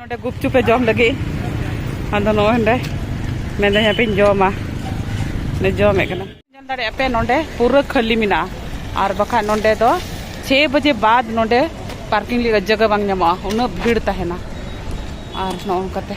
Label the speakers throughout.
Speaker 1: ᱱᱚᱰᱮ ᱜᱩᱯᱪᱩᱯ ᱮ ᱡᱚᱢ ᱞᱟᱹᱜᱤᱫ ᱟᱫᱚ ᱱᱚᱜᱼᱚᱭ ᱱᱚᱰᱮ ᱢᱮᱱᱫᱟᱹᱧ ᱦᱟᱯᱮᱧ ᱡᱚᱢᱟ ᱡᱚᱢᱮᱫ ᱠᱟᱱᱟ ᱧᱮᱞ ᱫᱟᱲᱮᱭᱟᱜ ᱯᱮ ᱱᱚᱰᱮ ᱯᱩᱨᱟᱹ ᱠᱷᱟᱹᱞᱤ ᱢᱮᱱᱟᱜᱼᱟ ᱟᱨ ᱵᱟᱠᱷᱟᱡ ᱱᱚᱰᱮ ᱫᱚ ᱪᱷᱮ ᱵᱟᱡᱮ ᱵᱟᱫ ᱱᱚᱰᱮ ᱯᱟᱨᱠᱤᱝ ᱞᱟᱹᱜᱤᱫ ᱡᱟᱭᱜᱟ ᱵᱟᱝ ᱧᱟᱢᱚᱜᱼᱟ ᱩᱱᱟᱹᱜ ᱵᱷᱤᱲ ᱛᱟᱦᱮᱱᱟ ᱟᱨ ᱱᱚᱜᱼᱚ ᱱᱚᱝᱠᱟᱛᱮ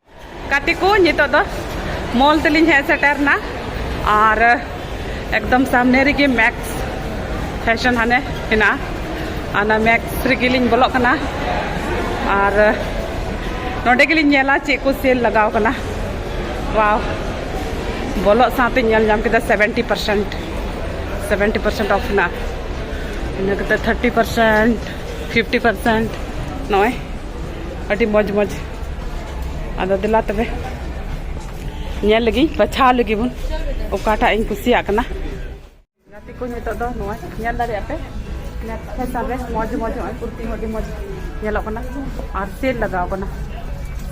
Speaker 1: ᱜᱟᱛᱮ ᱠᱚ ᱱᱤᱛᱚᱜ ᱫᱚ ᱢᱚᱞ ᱛᱮᱞᱤᱧ ᱦᱮᱡ ᱥᱮᱴᱮᱨᱱᱟ ᱟᱨ ᱮᱠᱫᱚᱢ ᱥᱟᱢᱱᱮ ᱨᱮᱜᱮ ᱢᱮᱠᱥ ᱯᱷᱮᱥᱚᱱ ᱦᱟᱱᱮ ᱦᱮᱱᱟᱜᱼᱟ ᱚᱱᱟ ᱢᱮᱠᱥ ᱨᱮᱜᱮᱞᱤᱧ ᱵᱚᱞᱚᱜ ᱠᱟᱱᱟ ᱟᱨ ᱱᱚᱰᱮ ᱜᱮᱞᱤᱧ ᱧᱮᱞᱟ ᱪᱮᱫ ᱠᱚ ᱥᱮᱞ ᱞᱟᱜᱟᱣ ᱠᱟᱱᱟ ᱣᱟᱣ ᱵᱚᱞᱚᱜ ᱥᱟᱶᱛᱮ ᱧᱮᱞ ᱧᱟᱢ ᱠᱮᱫᱟ seventy percent seventy percent of ᱦᱮᱱᱟᱜᱼᱟ ᱤᱱᱟᱹ ᱠᱟᱛᱮᱫ ᱛᱷᱟᱨᱴᱤ ᱯᱟᱨᱥᱮᱱᱴ ᱯᱷᱤᱯᱴᱤ ᱯᱟᱨᱥᱮᱱᱴ ᱱᱚᱜᱼᱚᱭ ᱟᱹᱰᱤ ᱢᱚᱡᱽ ᱢᱚᱡᱽ ᱟᱫᱚ ᱫᱮᱞᱟ ᱛᱚᱵᱮ ᱧᱮᱞ ᱞᱟᱹᱜᱤᱫ ᱵᱟᱪᱷᱟᱣ ᱞᱟᱹᱜᱤᱫ ᱵᱚᱱ ᱚᱠᱟᱴᱟᱜ ᱤᱧ ᱠᱩᱥᱤᱭᱟᱜ ᱠᱟᱱᱟ ᱜᱟᱛᱮ ᱠᱚ ᱱᱤᱛᱚᱜ ᱫᱚ ᱱᱚᱣᱟ ᱧᱮᱞ ᱫᱟᱲᱮᱭᱟᱜ ᱯᱮ ᱯᱷᱮᱥᱟᱱ ᱨᱮ ᱢᱚᱡᱽ ᱢᱚᱡᱽ ᱱᱚᱜᱼᱚᱭ ᱠᱩᱨᱛᱤ ᱦᱚᱸ ᱟᱹᱰᱤ ᱢᱚᱡᱽ ᱧᱮᱞᱚᱜ ᱠᱟᱱᱟ ᱟᱨ ᱥᱮᱞ ᱞᱟᱜᱟᱣ ᱠᱟᱱᱟ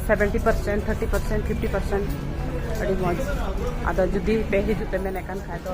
Speaker 1: seventy percent thirty percent fifty percent ᱟᱹᱰᱤ ᱢᱚᱡᱽ ᱟᱫᱚ ᱡᱩᱫᱤ ᱯᱮ ᱦᱤᱡᱩᱜ ᱯᱮ ᱢᱮᱱᱮᱫ ᱠᱟᱱ ᱠᱷᱟᱡ ᱫᱚ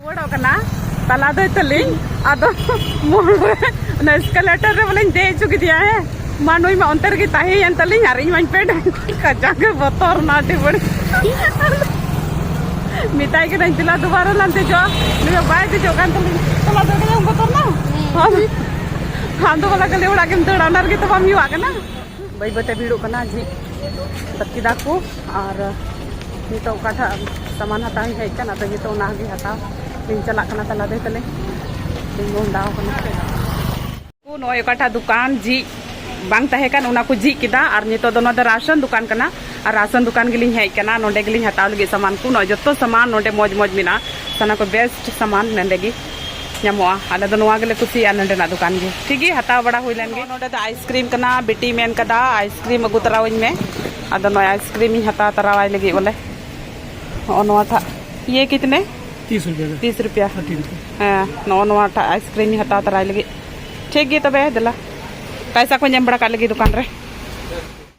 Speaker 1: ᱨᱩᱣᱟᱹᱲᱚᱜ ᱠᱟᱱᱟ ᱛᱟᱞᱟ ᱫᱚᱭ ᱛᱟᱹᱞᱤᱧ ᱟᱫᱚ ᱢᱳᱲ ᱨᱮ ᱚᱱᱟ ᱮᱥᱠᱟᱞᱮᱴᱟᱨ ᱨᱮ ᱵᱚᱞᱮᱧ ᱫᱮᱡ ᱦᱚᱪᱚ ᱠᱮᱫᱮᱭᱟ ᱦᱮᱸ ᱢᱟ ᱱᱩᱭ ᱢᱟ ᱚᱱᱛᱮ ᱨᱮᱜᱮ ᱛᱟᱦᱮᱸᱭᱮᱱ ᱛᱟᱹᱞᱤᱧ ᱟᱨ ᱤᱧ ᱢᱟᱧ ᱯᱮᱰ ᱠᱟᱡᱟᱠ ᱜᱮ ᱵᱚᱛᱚᱨ ᱱᱟ ᱟᱹᱰᱤ ᱵᱟᱹᱲᱤᱡ ᱢᱮᱛᱟᱭ ᱠᱟᱹᱱᱟᱹᱧ ᱫᱮᱞᱟ ᱫᱩᱵᱟᱨᱟ ᱞᱟᱝ ᱫᱮᱡᱚᱜᱼᱟ ᱱᱩᱭ ᱵᱟᱭ ᱫᱮᱡᱚᱜ ᱠᱟᱱ ᱛᱟᱹᱞᱤᱧ ᱛᱟᱞᱟ ᱫᱚ ᱟᱹᱰᱤ ᱵᱚᱛᱚᱨ ᱱᱟ ᱟᱫᱚ ᱵᱚᱞᱮ ᱠᱷᱟᱹᱞᱤ ᱚᱲᱟᱜ ᱜᱮᱢ ᱫᱟᱹᱲᱟ ᱚᱱᱟ ᱨᱮᱜᱮ ᱛᱚ ᱵᱟᱢ ᱦᱮᱣᱟᱜ ᱠᱟᱱᱟ ᱵᱟᱹᱭ ᱵᱟᱹᱭᱛᱮ ᱵᱷᱤᱲᱚᱜ ᱠᱟᱱᱟ ᱡᱷᱤᱡ ᱠᱮᱫᱟ ᱠᱚ ᱟᱨ ᱱᱤᱛᱚᱜ ᱚᱠᱟᱴᱟᱜ ᱥᱟᱢᱟᱱ ᱦᱟᱛᱟᱣ ᱤᱧ ᱦᱮᱡ ᱠᱟᱱᱟ ᱟᱫᱚ ᱱᱤᱛᱚᱜ ᱚᱱᱟᱜᱮ ᱦᱟᱛᱟᱣ ᱤᱧ ᱪᱟᱞᱟᱜ ᱠᱟᱱᱟ ᱛᱟᱞᱟ ᱫᱮ ᱛᱟᱞᱮ ᱤᱧ ᱢᱚᱦᱰᱟᱣ ᱠᱟᱱᱟ ᱱᱚᱜᱼᱚᱭ ᱚᱠᱟᱴᱟᱜ ᱫᱚᱠᱟᱱ ᱡᱷᱤᱡ ᱵᱟᱝ ᱛᱟᱦᱮᱸ ᱠᱟᱱ ᱚᱱᱟ ᱠᱚ ᱡᱷᱤᱡ ᱠᱮᱫᱟ ᱟᱨ ᱱᱤᱛᱚᱜ ᱫᱚ ᱱᱚᱣᱟ ᱫᱚ ᱨᱟᱥᱚᱱ ᱫᱚᱠᱟᱱ ᱠᱟᱱᱟ ᱟᱨ ᱨᱟᱥᱚᱱ ᱫᱚᱠᱟᱱ ᱜᱮᱞᱤᱧ ᱦᱮᱡ ᱠᱟᱱᱟ ᱱᱚᱰᱮ ᱜᱮᱞᱤᱧ ᱦᱟᱛᱟᱣ ᱞᱟᱹᱜᱤᱫ ᱥᱟᱢᱟᱱ ᱠᱚ ᱱᱚᱜᱼᱚᱭ ᱡᱚᱛᱚ ᱥᱟᱢᱟᱱ ᱱᱚᱰᱮ ᱢᱚᱡᱽ ᱢᱚᱡᱽ ᱢᱮᱱᱟᱜᱼᱟ ᱥᱟᱱᱟ ᱠᱚ ᱵᱮᱥᱴ ᱥᱟᱢᱟᱱ ᱱᱚᱰᱮ ᱜᱮ ᱧᱟᱢᱚᱜᱼᱟ ᱟᱞᱮ ᱫᱚ ᱱᱚᱣᱟ ᱜᱮᱞᱮ ᱠᱩᱥᱤᱭᱟᱜᱼᱟ ᱱᱚᱸᱰᱮᱱᱟᱜ ᱫᱚᱠᱟᱱ ᱜᱮ ᱴᱷᱤᱠ ᱜᱮ ᱦᱟᱛᱟᱣ ᱵᱟᱲᱟ ᱦᱩᱭ ᱞᱮᱱ ᱜᱮ ᱱᱚᱸᱰᱮ ᱫᱚ ᱟᱭᱤᱥᱠᱨᱤᱢ ᱠᱟᱱᱟ ᱵᱤᱴᱤ ᱢᱮᱱ ᱠᱟᱫᱟ ᱟᱭᱤᱥᱠᱨᱤᱢ ᱟᱹᱜᱩ ᱛᱟᱨᱟᱣᱟᱹᱧ ᱢᱮ ᱟᱫᱚ ᱱᱚᱜᱼᱚᱭ ᱟᱭᱤᱥᱠᱨᱤᱢ ᱤᱧ ᱦᱟᱛᱟᱣ ᱛᱟᱨᱟᱣᱟᱭ ᱞᱟᱹᱜᱤᱫ ᱵᱚᱞᱮ ᱱᱚᱜᱼᱚ ᱱᱚᱣᱟ ᱴᱷᱟᱜ ᱤᱭᱟᱹ ᱠᱤᱛᱱᱮ ᱛᱤᱥ ᱨᱩᱯᱤᱭᱟ ᱛᱤᱥ ᱨᱩᱯᱤᱭᱟ ᱦᱮᱸ ᱱᱚᱜᱼᱚ ᱱᱚᱣᱟ ᱴᱷᱟᱜ ᱟᱭᱤᱥᱠᱨᱤᱢ ᱤᱧ ᱦᱟᱛᱟᱣ ᱛᱟᱨᱟᱭ ᱞᱟᱹᱜᱤᱫ ᱴᱷᱤᱠ ᱜᱮ ᱛᱚᱵᱮ ᱫᱮᱞᱟ ᱯᱟᱭᱥᱟ ᱠᱚᱧ ᱮᱢ ᱵᱟᱲᱟ ᱠᱟᱜ ᱞᱟᱹᱜᱤᱫ ᱫᱚᱠᱟᱱ ᱨᱮ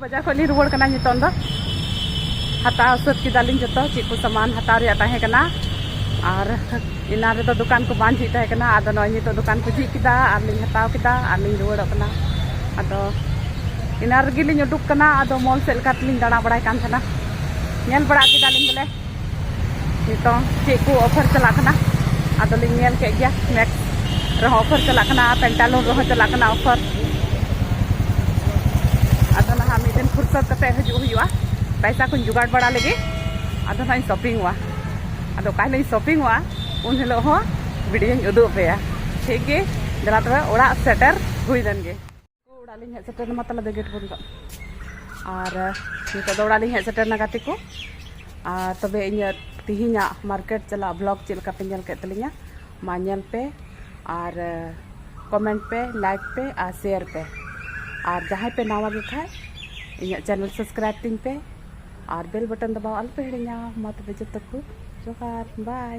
Speaker 1: ᱵᱟᱡᱟᱨ ᱠᱷᱚᱱ ᱞᱤᱧ ᱨᱩᱣᱟᱹᱲ ᱠᱟᱱᱟ ᱱᱤᱛᱚᱝ ᱫᱚ ᱦᱟᱛᱟᱣ ᱥᱟᱹᱛ ᱠᱮᱫᱟᱞᱤᱧ ᱡᱚᱛᱚ ᱪᱮᱫ ᱠᱚ ᱥᱟᱢᱟᱱ ᱦᱟᱛᱟᱣ ᱨᱮᱭᱟᱜ ᱛᱟᱦᱮᱸ ᱠᱟᱱᱟ ᱟᱨ ᱮᱱᱟᱱ ᱨᱮᱫᱚ ᱫᱚᱠᱟᱱ ᱠᱚ ᱵᱟᱝ ᱡᱷᱤᱡ ᱛᱟᱦᱮᱸ ᱠᱟᱱᱟ ᱟᱫᱚ ᱱᱚᱜᱼᱚᱭ ᱱᱤᱛᱚᱜ ᱫᱚᱠᱟᱱ ᱠᱚ ᱡᱷᱤᱡ ᱠᱮᱫᱟ ᱟᱨ ᱞᱤᱧ ᱦᱟᱛᱟᱣ ᱠᱮᱫᱟ ᱟᱨ ᱞᱤᱧ ᱨᱩᱣᱟᱹᱲᱚᱜ ᱠᱟᱱᱟ ᱟᱫᱚ ᱮᱱᱟᱱ ᱨᱮᱜᱮ ᱞᱤᱧ ᱩᱰᱩᱠ ᱠᱟᱱᱟ ᱟᱫᱚ ᱢᱚᱞ ᱥᱮᱫ ᱞᱮᱠᱟ ᱛᱮᱞᱤᱧ ᱫᱟᱬᱟ ᱵᱟᱲᱟᱭ ᱠᱟᱱ ᱛᱟᱦᱮᱱᱟ ᱧᱮᱞ ᱵᱟᱲᱟ ᱠᱮᱫᱟᱞᱤᱧ ᱵᱚᱞᱮ ᱱᱤᱛᱚᱝ ᱪᱮᱫ ᱠᱚ ᱚᱯᱷᱟᱨ ᱪᱟᱞᱟᱜ ᱠᱟᱱᱟ ᱟᱫᱚᱞᱤᱧ ᱧᱮᱞ ᱠᱮᱫ ᱜᱮᱭᱟ ᱢᱮᱠ ᱨᱮᱦᱚᱸ ᱚᱯᱷᱟᱨ ᱪᱟᱞᱟᱜ ᱠᱟᱱᱟ ᱯᱮᱱᱴᱟᱞᱩᱱ ᱨᱮᱦᱚᱸ ᱪᱟᱞᱟᱜ ᱠᱟᱱᱟ ᱚᱯᱷᱟᱨ ᱟᱫᱚ ᱱᱟᱦᱟᱜ ᱢᱤᱫ ᱫᱤᱱ ᱯᱷᱩᱨᱥᱚᱛ ᱠᱟᱛᱮ ᱦᱤᱡᱩᱜ ᱦᱩᱭᱩᱜᱼᱟ ᱯᱟᱭᱥᱟ ᱠᱚᱧ ᱡᱚᱜᱟᱲ ᱵᱟᱲᱟ ᱞᱮᱜᱮ ᱟᱫᱚ ᱱᱟᱦᱟᱜ ᱤᱧ ᱥᱚᱯᱤᱝᱚᱜᱼᱟ ᱟᱫᱚ ᱚᱠᱟ ᱦᱤᱞᱳᱜ ᱤᱧ ᱥᱚᱯᱤᱝᱚᱜᱼᱟ ᱩᱱ ᱦᱤᱞᱳᱜ ᱦᱚᱸ ᱵᱷᱤᱰᱤᱭᱳᱧ ᱩᱫᱩᱜ ᱟᱯᱮᱭᱟ ᱴᱷᱤᱠ ᱜᱮ ᱫᱮᱞᱟ ᱛᱚᱵᱮ ᱚᱲᱟᱜ ᱥᱮᱴᱮᱨ ᱦᱩᱭ ᱞᱮᱱ ᱜᱮ ᱚᱲᱟᱜ ᱞᱤᱧ ᱦᱮᱡ ᱥᱮᱴᱮᱨ ᱮᱱᱟ ᱛᱟᱦᱞᱮ ᱫᱚ ᱜᱮᱴ ᱵᱚᱱᱫᱚ ᱟᱨ ᱱᱤᱛᱚᱜ ᱫᱚ ᱚᱲᱟᱜ ᱞᱤᱧ ᱦᱮᱡ ᱥᱮᱴᱮᱨ ᱮᱱᱟ ᱜᱟᱛᱮ ᱠᱚ ᱟᱨ ᱛᱚᱵᱮ ᱤᱧᱟᱹᱜ ᱛᱤᱦᱤᱧᱟᱜ ᱢᱟᱨᱠᱮᱴ ᱪᱟᱞᱟᱜ ᱵᱞᱚᱜ ᱪᱮᱫ ᱞᱮᱠᱟ ᱯᱮ ᱧᱮᱞ ᱠᱮᱫ ᱛᱟᱹᱞᱤᱧᱟ ᱢᱟ ᱧᱮᱞ ᱯᱮ ᱟᱨ ᱠᱚᱢᱮᱱᱴ ᱯᱮ ᱞᱟᱭᱤᱠ ᱯᱮ ᱟᱨ ᱥᱮᱭᱟᱨ ᱯᱮ ᱟᱨ ᱡᱟᱦᱟᱸᱭ ᱯᱮ ᱱᱟᱣᱟ ᱜᱮ ᱠᱷᱟᱡ ᱤᱧᱟᱹᱜ ᱪᱮᱱᱮᱞ ᱥᱟᱵᱥᱠᱨᱟᱭᱤᱵ ᱛᱤᱧ ᱯᱮ ᱟᱨ ᱵᱮᱞ ᱵᱚᱴᱚᱱ ᱫᱚ ᱵᱟᱝ ᱟᱞᱚ ᱯᱮ ᱦᱤᱲᱤᱧᱟ ᱢᱟ ᱛᱚᱵᱮ ᱡᱚᱛᱚ ᱠᱚ ᱡᱚᱦᱟᱨ ᱵᱟᱭ